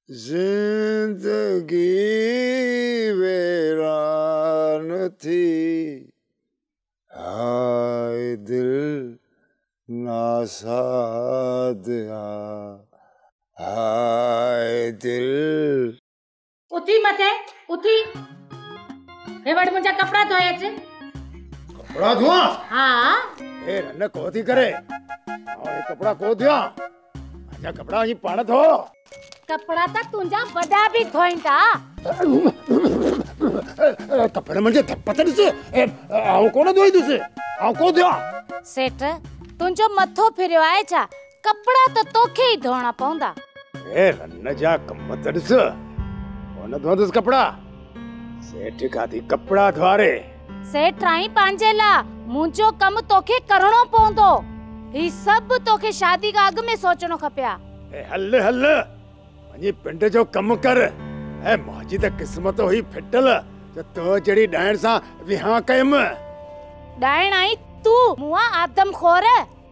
زندگي ويران ٿي هاء دل ناساد آ هاء دل. اٿي مٿي اٿي هي وٽ منهنجا ڪپڙا ڌوئي اچ ڪپڙا ڌوئان ها هي رنڊ ڪو ٿي ڪري آئون هي ڪپڙا ڪو ڌوئان. اڄا ڪپڙا وڃي پاڻ ڌو ڪپڙا ته تنهنجا وڏا به ڌوئين ٿا ڪپڙا منهنجا ڌپ ته ڏس آئون ڪونه ڌوئيندس آئون ڪو ڌويان سيٺ تنهنجو مٿو ڦريو آهي ڇا ڪپڙا ته توکي ئي ڌوئڻا پوندا اي رن جا ڪم ته ڏس ڪونه ڌوندس ڪپڙا سيٺ کاڌي ڪپڙا ڌواري سيٺ آهين پنهنجي لا، منهنجو ڪم توکي ڪرڻو پوندو. هي سڀ توکي شادي کان اڳ ۾ سوچڻو کپي ها. اي هل هل، وڃي پنڊ جو ڪم ڪر. اي منهنجي ته قسمت هئي ڦٽل جو تو جهڙي ڏائڻ سان ويهان ڪيم. ڏائڻ آهين تون مون آدم خور.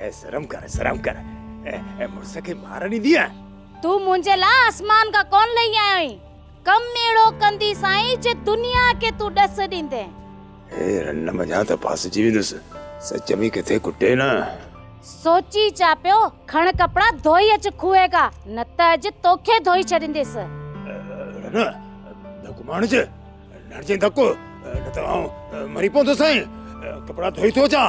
اي شرم ڪر شرم ڪر اي مڙس کي مار ڏيندي آهي. تون منهنجي لاء آسمان کان ڪونه لهي آيو آهين. ڪم اهڙو ڪندي سائين جو دنيا کي تون ڏس ڏيندين. اي رن منجهان ته ڦاسجي ويندس سچ ۾ ڪٿي ڪٽي نه. سوچي چا پيو کڻ ڪپڙا ڌوئي اچ کوهه کان نه ته اڄ توکي ڌوئي ڇڏينديس. رن ڌڪ ماڻج نه ڏجين ڌڪ نه ته آئون مري پوندو سائين ڪپڙا ڌوئي ٿو اچان.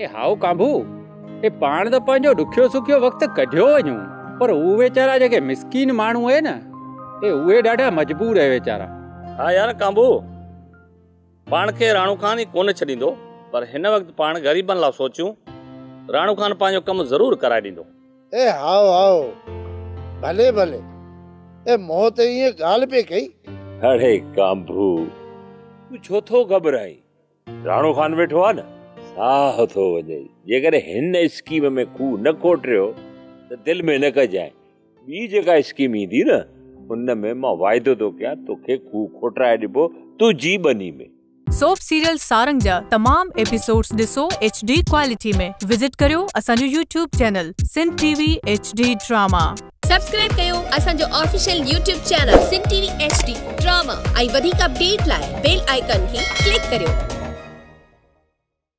اي هائو ڪانڀو! اي پاڻ ته پنهنجو ڏکيو سکيو وقت ڪڍيو وڃون، پر هو ويچارا جيڪي مسڪين ماڻهو اهي نه، اي اهي ڏاڍا مجبور اهي ويچارا. ها يار ڪانڀو! پاڻ کي راڻو خان ئي ڪونه ڇڏيندو، پر هن وقت پاڻ غريبن لا سوچيون، راڻو خان پنهنجو ڪم ضرور ڪرائي ڏيندو. اي هائو هائو! ڀلي ڀلي! اي مون ته ائين ڳالهه پئي ڪئي. اڙي ڪانڀو! تون ڇو ٿو گهٻرائين؟ راڻو خان ويٺو آهي نه ساهه ٿو وڃي جيڪڏهن هن اسڪيم ۾ کوهه نه کوٽريو ته دل ۾ نه ڪجانء ٻي جيڪا اسڪيم ايندي نه ان ۾ مان واعدو ٿو ڪيان توکي کوهه کوٽرائي ڏبو تنهنجي ٻني ۾. سوفٽ سيريل سارنگ جا تمام ايپيسوڊز ڏسو ايڇ ڊي ڪوالٽي ۾ وزٽ ڪريو اسان جو YouTube channel Sindh T V H D drama. Subscribe ڪيو اسان جو official YouTube channel Sindh T V H D drama ۽ وڌيڪ اپڊيٽ لاء بيل آئيڪان کي ڪلڪ ڪريو.